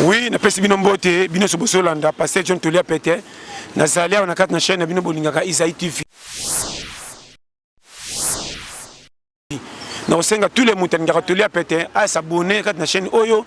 Oui, napesi bino mbote, bino so bosolanda Pasteur John Tolia Pete. Nazali awa na kati na chaîne na bino bolingaka Isaïe TV. Na osenga tous les moto alingaka Tolia Pete a s'abonner kati na chaîne oyo.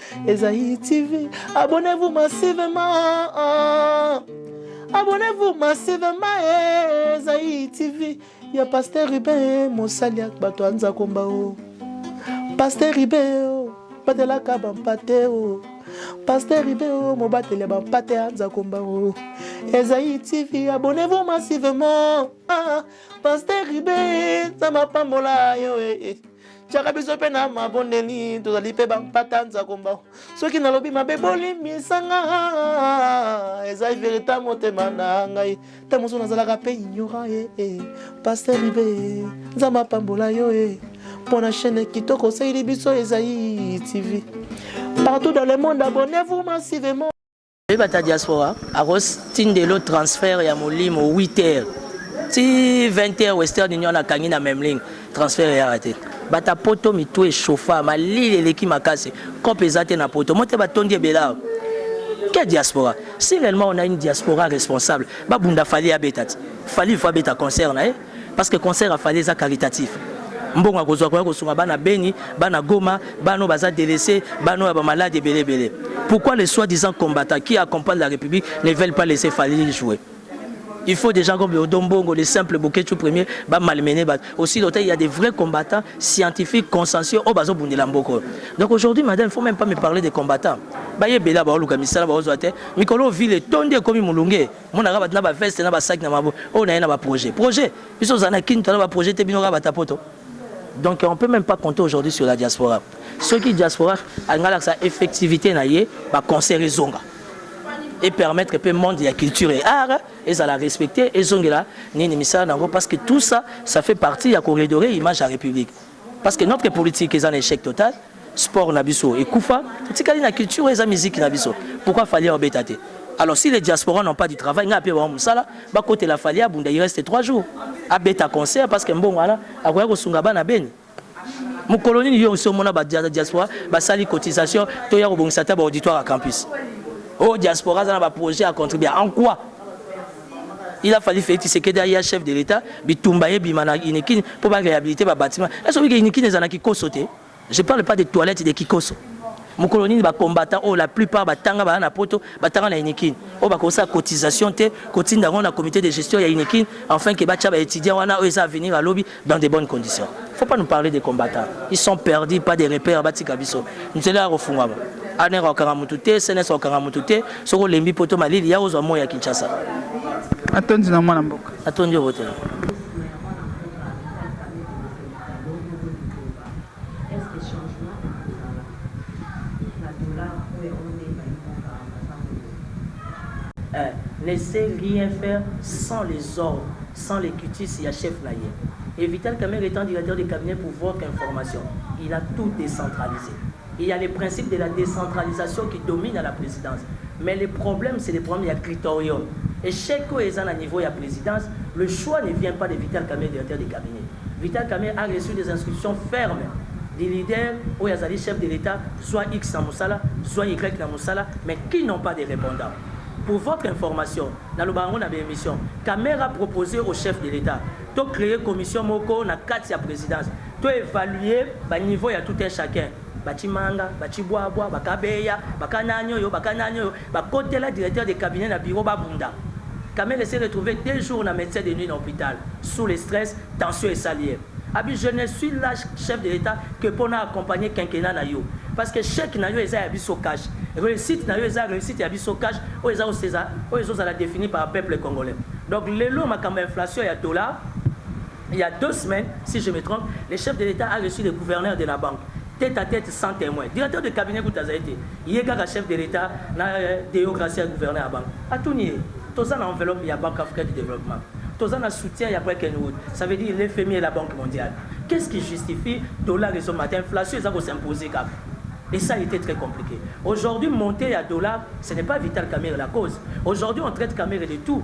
Esaïe TV, abonnez-vous massivement. Abonnez-vous massivement, Esaïe TV. Il y a Pasteur Ruben, Mossalia, Bato Anza Kombao. Pasteur Ruben, oh, Batelaka Bampate, oh. Pasteur Ruben, oh, Mobatele Bampate Anza Kombao. Esaïe TV, abonnez-vous massivement. Ah, Pasteur Ruben, ça m'a pas mola, yo, eh, eh. tiaka biso mpe na mabondeli tozali mpe bampata nzakomba soki nalobi mabe bolimbisanga eza verita motema na ngai ta mosusu nazalaka mpe ignora e eh, eh. paster ibe nzambe apambola yo e mpo na chaîne kitoko osaleli biso ezai tv partout dans le monde abonnez-vous massivement Oyeba ta diaspora akotindelo transfert ya molimo 8 heures ti 20 heures Western Union akangi na Memling transfert eyaka te. Bata poto mitu echauffa malili eleki makasi cop eza te na poto mote batondi ebela quelle diaspora si réellement on a une diaspora responsable babunda fali abeta ti fali il faut abeta concert na ye Parce que concert ya Fally eza caritatif. Mbongo akozwa akoya kosunga bana Beni, bana Goma, bana oyo baza delaisses, bana oyo ya ba malades ebele ebele. Pourquoi les soit disant combattants qui accompagnent la Republique ne veulent pas laisser Fally jouer? Il faut des gens comme le Odon Mbongo, les simples Boketshu premier, ba malmener bato. Aussi longtemps il y a des vrais combattants scientifiques, consensuels, oyo bazobundela mboka oyo. Donc aujourd'hui, madame, il faut même pas me parler des combattants. Baye ebele abaoluka misala baozwa te. Mikolo oyo ville etondi ekomi molunge. mona kaka bato na ba veste na ba sac na mabo oyo na ye na ba projet projet biso ozala na kin tona ba projet te bino kaka bata poto donc on peut même pas compter aujourd'hui sur la diaspora soki diaspora alinga lakisa effectivité na ye ba concert ezonga et permettre pe monde ya culture et art ezala respecter ezongela nini misala na yango parce que tout ça ça fait partie ya koredore image ya république Parce que notre politique est un échec total. Sport na biso et kufa. Tikali na culture et la musique na biso. Pourquoi fallait obetate? Alors si les diasporas n'ont pas du travail, n'a pas wa musala, ba côté la falia bunda il reste 3 jours. A beta concert parce que mbongo wana akoya ko sunga bana beni. Mukolo nini yo so mona ba diaspora ba sali cotisation to ya ko bongisa ta ba auditoire à campus. Oh diaspora za na ba projet à contribuer en quoi? Il a fallu Félix Tshisekedi aya chef de l'État, bitumba ebima na Unikin mpo ba réhabiliter ba bâtiments. Est-ce que Unikin eza na kikoso te? Je parle pas des toilettes de kikoso. Mokolo nini ba combattants oyo la plupart batanga baya na poto, batanga na Unikin, oyo bakoki kosala cotisation te, kotinda yango na comite de gestion ya Unikin, enfin que batia ba etudiants wana oyo eza avenir ya lobi, dans des bonnes conditions faut pas nous parler des combattants ils sont perdus pas des repères batika biso nzela ya kofungwama aner akokanga motu te sns akokanga motu te soki olembi poto malili ya ozwa moi ya kinshasa atondi na mwana mboka atondi obotela Est-ce que changement ekozala na dollar oyo ya wana nde ebayi mboka na tango oyo? Un ne sait rien faire sans les ordres, sans les cutis ya chef na ye. Et Vital Kamerhe etant directeur de cabinet pour votre information, il a tout decentralise. Il ya le principe de la decentralisation qui domine à la presidence. Mais le problème c'est le problème ya critorium. Echec oyo eza na niveau ya presidence, le choix ne vient pas de Vital Kamerhe directeur de cabinet. Vital Kamerhe a reçu des instructions fermes du leader oyo azali chef de l'Etat, zwa X na mosala, zwa Y na mosala, mais qui n'ont pas de repondant. Pour votre information, nalobaka yango na ba emissions, Kamerhe a proposer au chef de l'Etat to creer commission moko na kati ya presidence to evaluer ba niveaux ya tout un chacun, ba Tshimanga, ba Tshibwabwa, ba Kabeya, ba Kanani oyo, ba Kanani oyo, Ba kotela directeur de cabinet na bureau ba bunda. Kamerhe s'est retrouve deux jours na medecin de nuit na hopital sous le stress, tension esali ye. Abi je ne suis la chef de l'etat que po na accompagner quinquennat na yo. Parce que chèque na yo eza ya biso cash. Reussite na yo eza reussite ya biso cash oyo eza oyo ezo zala definie par peuple congolais. Donc lelo makambo ya inflation ya dollars, Il ya deux semaines, si je me trompe, le chef de l'Etat a reçu le gouverneur de la banque, tete à tete sans temoin. Directeur de cabinet kutu azali te, ye kaka chef de l'Etat na Deogracia ya gouverneur ya banque. Atuni ye, toza na enveloppe ya Banque africaine de developpement, toza na soutien ya Bretton Woods, ça veut dire le FMI et la Banque mondiale, qu'est ce qui justifie dollar ezo mata, inflation eza ko s'imposer kaka? Et ça a ete très complique. Aujourd'hui, montee ya dollar, ce n'est pas Vital Kamerhe la cause. Aujourd'hui, on traite Kamerhe de tout.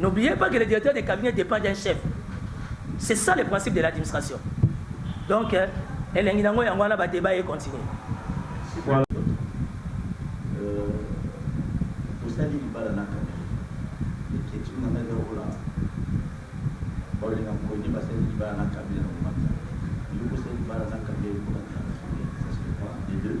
N'oubliez pas que le directeur de cabinet depend d'un chef. C'est ça le principe de l'administration. Donc, euh, elengi nango yango wana ba débat et continuer. Voilà. Euh, osali libala na kaka. Eketi na ngai lokola baolinga mokoni basali libala na kabila na komata. Yo kosali libala na kabila ekomata. Ça se voit les deux.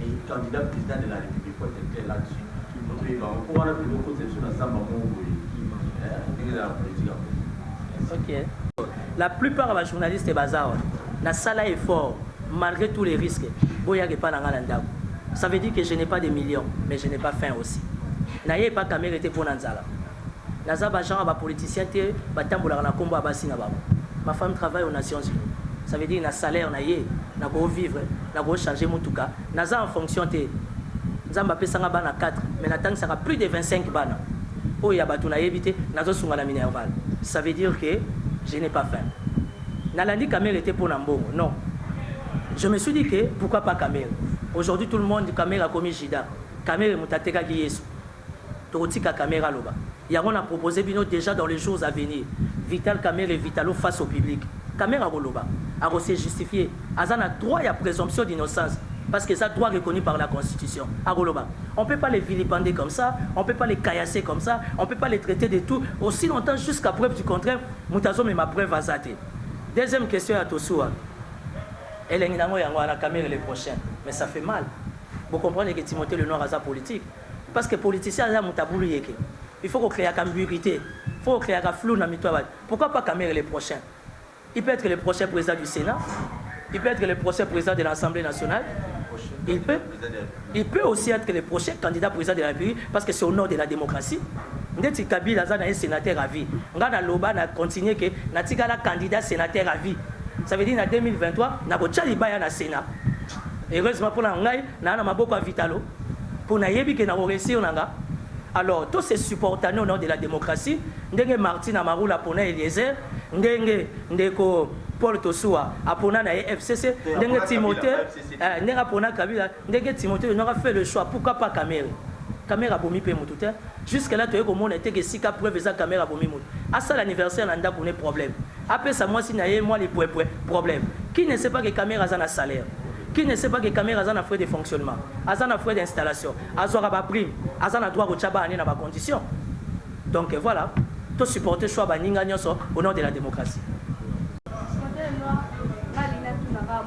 Et candidat president de la republique faut etre clair là dessus il faut toyeba yango po wana tolingi okotisa biso na zamba moko boye eh ndenge eza na politique ya congo. Ok. La plupart ya ba journalistes baza awa. Nasala effort malgre tous les risques boyaka epai na ngai na ndako. Ça veut dire que je n'ai pas des millions mais je n'ai pas faim aussi. Naye epai Kamerhe te mpo na nzala. Naza ba genre ya ba politiciens te ba tambolaka na kombo ya basi na bango. Ma femme travaille aux Nations Unies. Ça veut dire na salaire na ye nako vivre, nako changer mutuka. Naza en fonction te. Nzambe apesa nga bana quatre mais na tangisaka plus de 25 bana. Oyo ya batu nayebi te. Nazo sunga na Minerval. Ça veut dire que je n'ai pas faim. Nalandi Kamere te pona mbongo non. Je me suis dit que pourquoi pas Kamere. Aujourd'hui tout le monde Kamere akomi Judas. Kamere mutu atekaki Yesu. Toko tika kamerhe aloba. Yango na proposer bino dejà dans les jours à venir vital kamerhe vitalo face au public kamerhe ako loba ako se justifier aza na droit ya presomption d'innocence parce que eza droit reconnu par la constitution ako loba on peut pas le vilipender comme ça on peut pas le caillasser comme ça on peut pas le traiter de tout aussi longtemps jusqu'à preuve du contraire mutu azo mema preuve aza te deuxième question ya tosuwa elengi nango yango wana kamerhe le prochain mais ça fait mal bo comprendre que timothee le noir aza politique Parce que politicien aza mutu abulu yeke il faut ko creaka ambiguite il faut ko creaka flou na mitu ya batu pourquoi pas Kamerhe le prochain il peut etre le prochain president du senat il peut etre le prochain president de l'assemble nationale il peut il peut aussi etre le prochain candidat president de la République parce que c'est au nom de la démocratie ndeti Kabila aza na ye sénateur à vie nga na loba na continuer que na tikala candidat sénateur à vie ça veut dire na 2023 na ko tia libaya na senat heureusement pona ngai Naza na maboko ya vitalo po nayebi que nako reussir nanga alors to se supportane au nom de la democratie ndenge Martin Amarula apona Eliezer ndenge ndeko Paul Tosuwa apona na ye FCC ndenge Timothee eh, ndenge apona Kabila ndenge Timothee Nonga fait le choix pourquoi pas Kamere Kamere abomi pe mutu te Jusque là toye komona te que esika preuve eza camere abomi mutu. Asala anniversaire na ndaku ne problème. Apesa mwasi naye mwa lipwepwe problème. Qui ne sait pas que camere aza na salaire? Qui ne sait pas que camere aza na frais de fonctionnement? Aza na frais d'installation? Azwaka ba primes? Aza na droit kotia bana ne na ba conditions? Donc voilà. To supporter choix ya baninga nionso au nom de la democratie.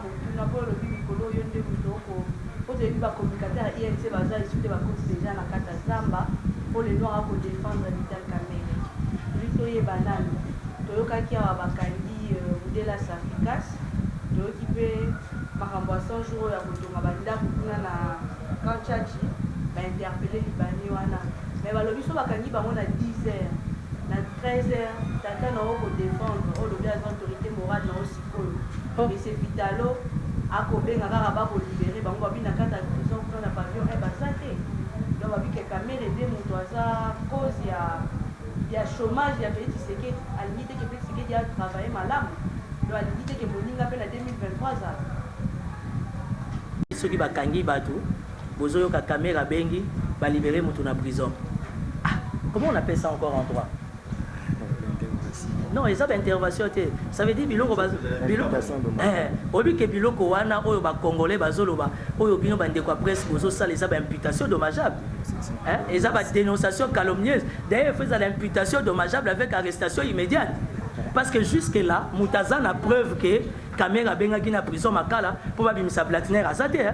Tuna po olobi mikolo yo nde mutu oko po toyebi ba communicateur ya inc baza esu te bakoti deja na kati ya zamba po le noir ako defendre vital kamerhe lui toyeba nanu toyokaki awa bakangi mudela safricas toyoki pe makambo ya 100 jours oyo ya kotonga ba ndaku kuna na camp tshatshi ba interpelle libanais wana mais balobi soki bakangi bango na 10 heures na 13 heures tata na yo oko defendre olobi aza autorite morale na yo Oyo monsieur vitalo ako benga kaka ba ko libere bango babi na kati ya prison kuna na pavillion un baza te donc babi ke kamere nde mutu aza cause ya ya chomage ya felix tshisekedi alingi te ke felix tshisekedi a travailler malamu donc alingi te ke moninga pe na 2023 azala soki ba kangi batu bozo yoka kamere abengi ba libere mutu na prison ah comment on appelle ça encore en droit Non, eza ba intervention te. Ça veut dire biloko ba biloko eh obi ke biloko wana oyo ba congolais bazoloba oyo bino ba ndeko presse bozo sala eza ba imputation dommageable. Hein? Eza ba dénonciation calomnieuse. D'ailleurs, faisait l'imputation dommageable avec arrestation immédiate. Parce que jusque là, mutaza na preuve que Kamera bengaki na prison Makala pour babimisa Blatner azate hein.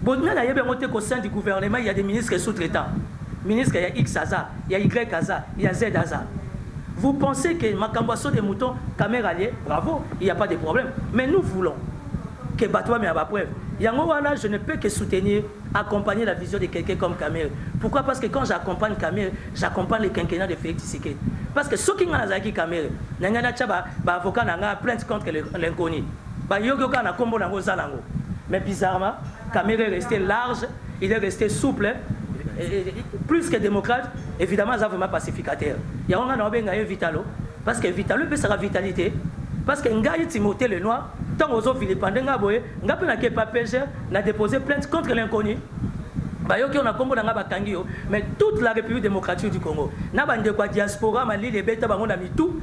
Bon nani ayebi yango te qu'au sein du gouvernement il ya des ministres sous traitants? Ministre ya X aza, ya Y aza, ya Z aza. Vous pensez que makambo ya saut de mouton kamerhe bravo il ya pas de problème mais nous voulons que bato bamema ba preuve yango wana je ne peux que soutenir accompagner la vision de quelqu'un comme Kamere. Pourquoi Parce que quand j'accompagne Kamere, j'accompagne le quinquennat de Félix Tshisekedi. Parce que ceux qui n'ont pas Kamere, n'ont pas d'avocat, n'ont pas plainte contre l'inconnu. Ba yoki yo kaka na kombo na yango oza na yango mais bizarrement Kamerhe est reste large, il est reste souple plus que démocrate évidemment aza vraiment pacificateur yango ngai naobenga ye vitalo parce que vitalo epesaka vitalité parce que ngai timothée le noir ntango ozovilipande ngai boye ngai mpe nake papege na dépose plainte contre l'inconnu bayoki yo na nkombo na ngai bakangi yo mais toute la république démocratique du congo na bandeko ya diaspora malili ebeta bango na mitu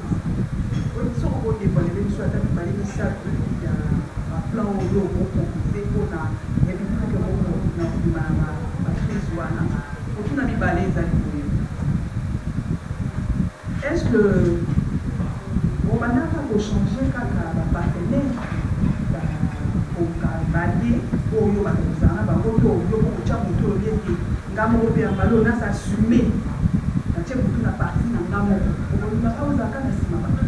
Boyebi soko bo devoilele biso ata mibale misatu ya ba plan oyo bo proposer pona republique moko na kobima na ba ba crise wana? Motuna mibale ezali boye, Est ce que bo bandaka ko changer kaka ba partenaires ba ko ka b'allies oyo bato bozala na bango to yo moko otia moto olobi ete Nga moko pe ya mbala oyo na s'assume na tie butu na partie na nga moko okolinga nga ozala kaka na sima batu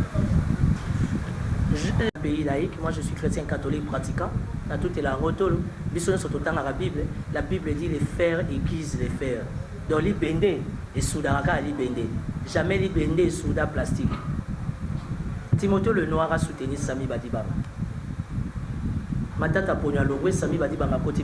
Je pays laïque moi je suis chretien catholique pratiquant na tutela yango tolo biso nyonso totangaka bible la bible dit les fers aiguisent les fers donc libende esudaka kaka libende jamais libende esuda plastique timothée le noir asoutenir sami badibanga matata ponyo alongwe sami badibanga koti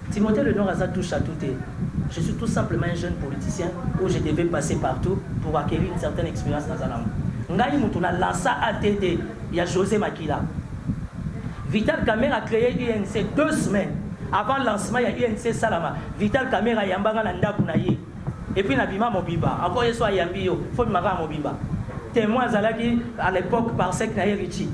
Timothee le noir aza touche à tout te je suis tout simplement un jeune politicien où je devais passer partout pour acquerir une certaine experience naza nango ngai mutu na lança ATD ya Jose makila Vital Kamerhe a cree UNC deux semaines avant lancement ya UNC esalama Vital Kamerhe ayamba nga na ndaku na ye Et puis na bima mobimba encore yesu ayambi yo faut bima kaka mobimba temoin azalaki à l'epoque par sec na ye Richie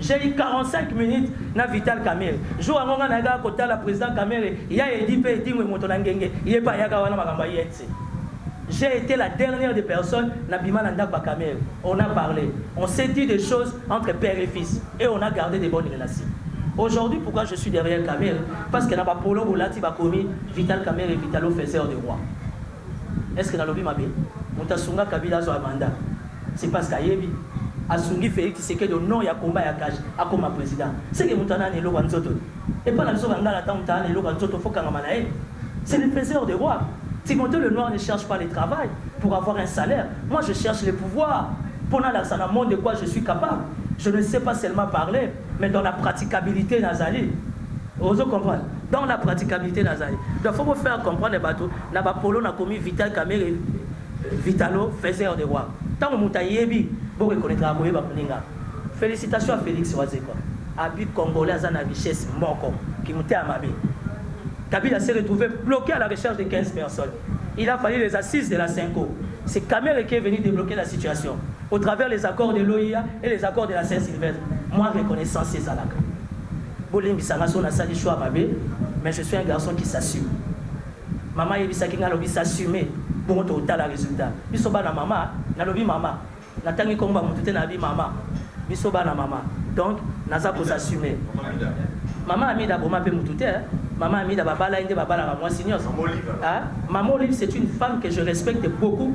j'ai eu 45 minutes na Vital Kamere jour yango nga nayaka kotala président Kamere ya edi pe edingwe moto na ngenge ye pa yaka wana makambo ya INC j'ai été la dernière des personnes na bima na ndako ya Kamere on a parlé on s'est dit des choses entre père et fils et on a gardé des bonnes relations Aujourd'hui, pourquoi je suis derrière Kamel Parce que là-bas, Polo Bolati Bakomi, Vital Kamerhe Vitalo faiseur de roi est ce que nalobi mabe? Mutu asunga Kabila azwa mandat c'est parce que ayebi asungi Felix Tshisekedi au nom ya combat ya cash akoma president ce que mutu wana ana eloko ya nzoto te? Epa na biso ba ngala tangu mutu ana eloko ya nzoto faut kangama na ye c'est le faiseur de roi Timothee le noir ne cherche pas le travail pour avoir un salaire moi je cherche le pouvoir po nalakisa na monde de quoi je suis capable je ne sais pas seulement parler Mais dans la praticabilite nazali ozo comprendre dans la praticabilite nazali donc faut faire comprendre bato na ba polo na komi vital kamere euh, vitalo faiseur de roi ntango moto ayebi borekonetaka koyeba moninga félicitation à félix wazekwa abi congolais aza na richesse moko kimute ya mabe kabila s'est retrouvé bloqué à la recherche de 15 personnes il a fallu les assises de la cinco c'est kamere qui est venu débloquer la situation Au travers les accords de l'OIA et les accords de la Saint Sylvestre, mwa reconnaissance ezalaka. Bolimbisa nga soki nasali choix mabe, mais je suis un garçon qui s'assume. Mama ayebisaki nga alobi s'assumer, bongo tokotala resultat. Biso bana mama, nalobi mama, natangi kombo ya mutu te nabi mama. Biso bana mama, donc naza ko s'assumer. Mama Amida aboma pe mutu te, hein. Mama Amida babala ye nde babalaka mwasi nionso. Hein? Mama Olive c'est une femme que je respecte beaucoup.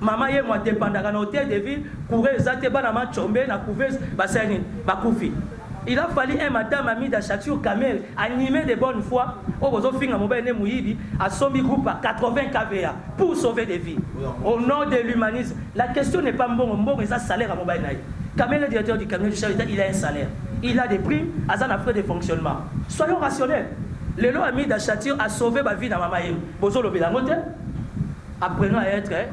Maman yemo a dependaka na hotel de ville courant eza te bana ma tshombe na couveuse basali nini bakufi il a fallu un madame amie d'Ashakshur Kamel animé de bonne foi oyo bozo finga mobali ne muyibi asombi groupe à 80 kva pour sauver des vies au nom de l'humanisme la question n'est pas mbongo mbongo eza salaire ya mobali na ye Kamel est directeur du cabinet du chef d'État il a un salaire il a des primes aza na frais de fonctionnement soyons rationnels lelo amie d'Ashakshur a sauvé ba vie na mama yemo bozo lobela yango te Apprenons à etre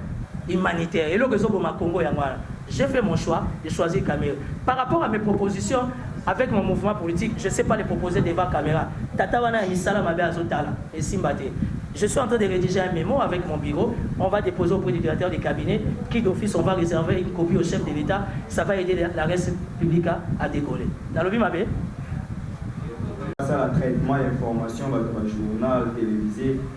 humanitaire eloko ezo boma Congo yango wana j'ai fait mon choix de choisir Kamerhe par rapport à mes propositions avec mon mouvement politique je sais pas les proposer devant camera tata wana ya misala mabe azo tala esimba te je suis en train de rediger un memo avec mon bureau on va deposer auprès du directeur de cabinet qui d'office on va reserver une copie au chef de l'Etat ça va aider la reste publique à décoller nalobi mabe basala traitement ya information bato ba journal televise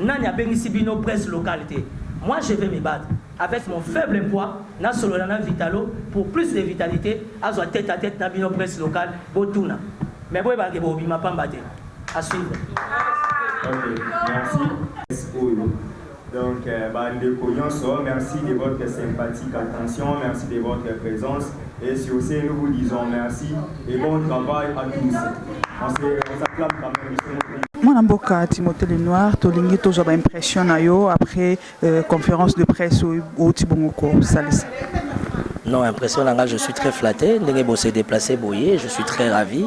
Nani abengisi bino presse locale te? Moi je vais me battre avec mon faible poids na solola na vitalo pour plus de vitalite azwa tete à tete na bino presse locale botuna mais boyebaka ke bokobima pamba te à suivre. Ok, merci. Oyo. Donc, euh, bande de Merci de votre sympathique attention. Merci de votre présence. Et sur ce, nous vous disons merci et bon travail à tous. On s'acclame quand même. mwana mboka timothée lenoir tolingi tozwa baimpression na yo après euh, conférence de presse oyo outi bongo kosalisa non impression na ngai je suis très flatté ndenge bose déplacé boye je suis très ravi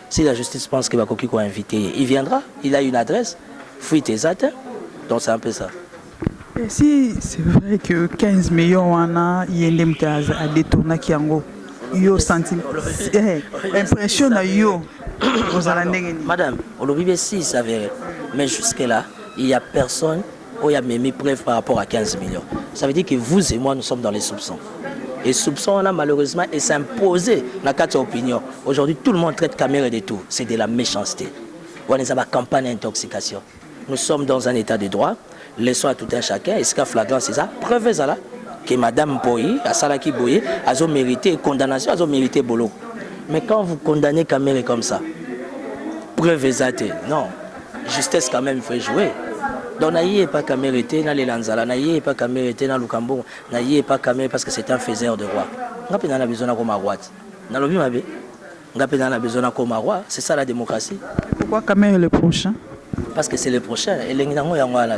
Si la justice pense que bakoki ko inviter ye, il viendra, il a une adresse, fuite eza te, donc c'est un peu ça. Et si c'est vrai que 15 millions wana ye nde moto a détournaki yango yo santi eh, impression na yo ozala ndenge nini madame olobi be si s'avère mais jusque là il y a personne oyo amemi preuve par rapport à 15 millions ça veut dire que vous et moi nous sommes dans les soupçons et soupçon wana malheureusement et s'imposer na kati ya opinion aujourd'hui tout le monde traite camere de tout c'est de la méchanceté wana eza bacampagne ya intoxication nous sommes dans un état de droit laissons à tout un chacun esika flagrance eza preuve ezala que madame mpoyi asalaki boye azo mérité condamnation azo mérité boloko mais quand vous condamnez camere comme ça preuve eza te non Justesse quand même fait jouer. Donc na ye pas Kamere te na lela nzala na ye pas Kamere te na Lukambo na ye pas Kamere parce que c'est un faiseur de roi. Nga pe na besoin na koma roi. Na lobi mabe. Nga pe na besoin na koma roi, c'est ça la démocratie. Pourquoi Kamere le prochain? Parce que c'est le prochain. Elengi nango yango wana.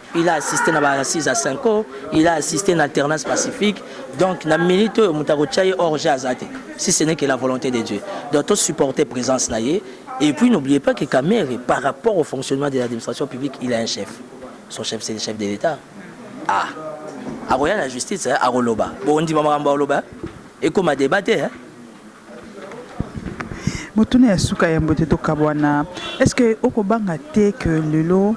il a assisté na ba assises à Cinco, il a assisté na alternance pacifique. Donc na minute oyo moto akotya ye hors jeu aza te si ce n'est que la volonté de Dieu. Donc to supporter présence na ye et puis n'oubliez pas que Kamerhe par rapport au fonctionnement de l'administration publique, il a un chef. Son chef c'est le chef de l'État. Ah. Akoya na justice hein, akoloba. Bondima makambo akoloba. Ekoma débat te hein. motuna ya suka ya mbote tokabwana est ce que okobanga te que lelo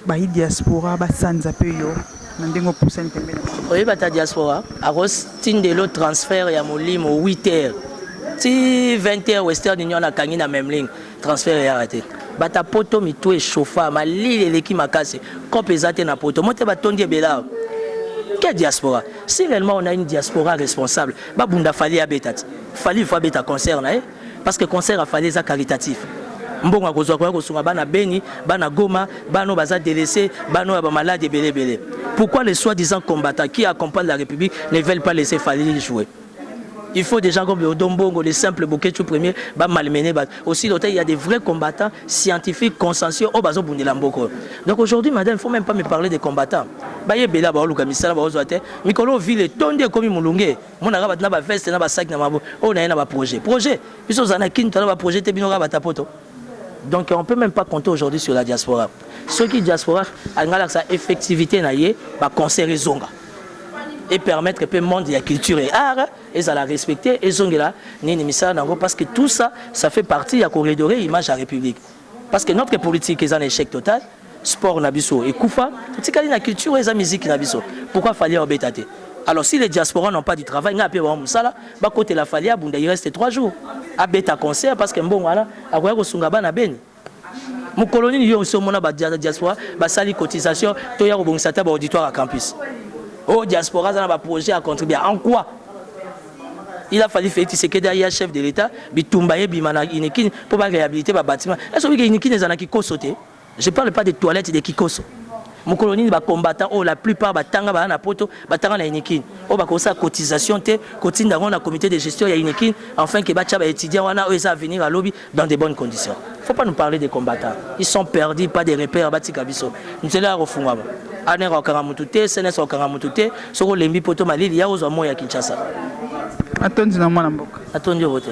Bayi diaspora ba sanza pe yo na ndenge opusani pembeni na bango. Oyebi ata diaspora ako tindelo transfert ya molimo huit heures ti vingt heures western union akangi na memling transfert eyaka te. Bato ya poto mitu e chauffa malili eleki makasi coop eza te na poto mbote ba tondi ebele awa quel diaspora si reellement on a une diaspora responsable ba bunda Fally abeta ti Fally il faut abeta concert na ye. Parce que concert ya Fally eza caritatif. Mbongo akozwa akoya kosunga bana Beni, bana Goma, bana oyo baza delaisses, bana oyo ya ba malades ebele ebele. Pourquoi les soit disant combattants qui accompagnent la Republique ne veulent pas laisser Fally jouer? Il faut des gens comme les Odon Mbongo, les simples Boketshu premier ba malmener bato. Aussi longtemps il y a des vrais combattants scientifiques, consensuels oyo bazobundela mboka oyo. Donc aujourd'hui madame, il faut même pas me parler des combattants. Bayebela baoluka misala baozwa te. Mikolo oyo ville etondi ekomi molunge. mona kaka bato na ba veste na ba sac na mabo oyo na ye na ba projet projet biso ozala na kin tona ba projet te bino kaka bata poto donc on peut même pas compter aujourd'hui sur la diaspora soki diaspora alinga lakisa effectivité na ye ba concert ezonga et permettre pe monde ya culture et art ezala respecter ezongela nini misala na yango parce que tout ça ça fait partie ya koredore image ya république Parce que notre politique est un échec total. Sport na biso et kufa. Tikali na culture et la musique na biso. Pourquoi fallait obetate? Alors si les diasporas n'ont pas du travail, n'a pas wa musala, ba côté la falia bunda il reste 3 jours. A beta concert parce que mbongo wana akoya ko sunga bana beni. Mukolo nini yo so mona ba diaspora ba sali cotisation to ya ko bongisa ta ba auditoire à campus. Oh diaspora za na ba projet à contribuer en quoi? Il a fallu Félix Tshisekedi aya chef de l'État, bitumba ebima na Unikin mpo ba réhabiliter ba bâtiments. Est-ce que oyebi que Unikin ezala na Kikoso te? Je parle pas des toilettes de Kikoso. Mokolo nini ba combattants oyo la plupart batanga baya na poto batanga na Unikin oyo bakoki kosala cotisation te kotinda yango na comite de gestion ya Unikin afin que batya ba etudiants wana oyo eza avenir ya lobi dans des bonnes conditions faut pas nous parler des combattants ils sont perdus pas des repères batika biso nzela ya kofungwama aner akokanga motu te sns akokanga motu te soki olembi poto malili ya ozwa moi ya kinshasa atondi na mwana mboka atondi obote